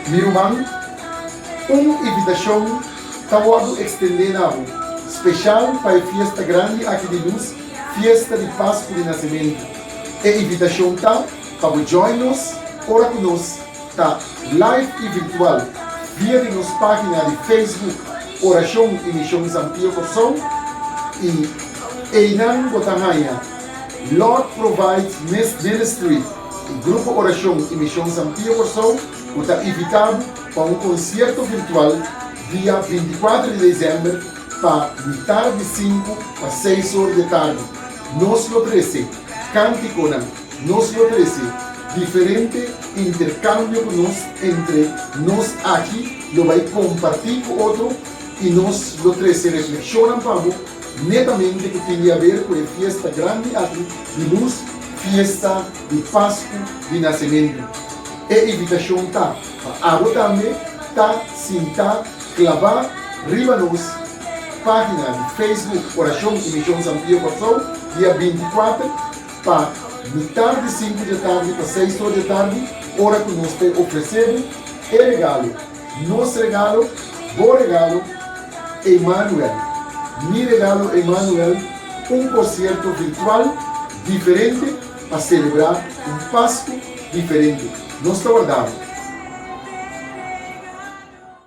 Mi ruman, un invitashon ta wòrdu ekstendé na bo, speshal pa e fiesta grandi aki di nos, Fiesta di Pasku di Nasementu. E invitashon ta pa bo join nos ora ku nos ta live i virtual via di nos página di Facebook Orashon i Mishon San Pio Kòrsou i einan bo ta haña Lord Provides Ministry. E Grupo Orashon i Mishon San Pio Kòrsou ku ta invitá bo pa un konsierto virtual dia binti kuater di desèmber pa mitar di sinku pa seis or di e tardi. Nos lo trese kántikonan, nos lo trese diferente interkambio ku nos entre nos aki lo bai kompartí ku otro i nos lo trese reflekshonnan pa bo Netamente ku tin di haber ku e fiesta grandi aki di lus, fiesta di Pasku di Nasementu. E invitashon ta pa abo tambe ta sintá klabá riba nos página di Facebook Orashon i Mishon San Pio Kòrsou dia binti kuater pa mitar di sinku di atardi pa seis or di atardi, ora ku nos ta ofresé bo e regalo. Nos regalo, bo regalo, Emanuel Mi regalo Emanuel Un concierto virtual diferente pa celebra un Pascu diferente. Nos ta wardalo.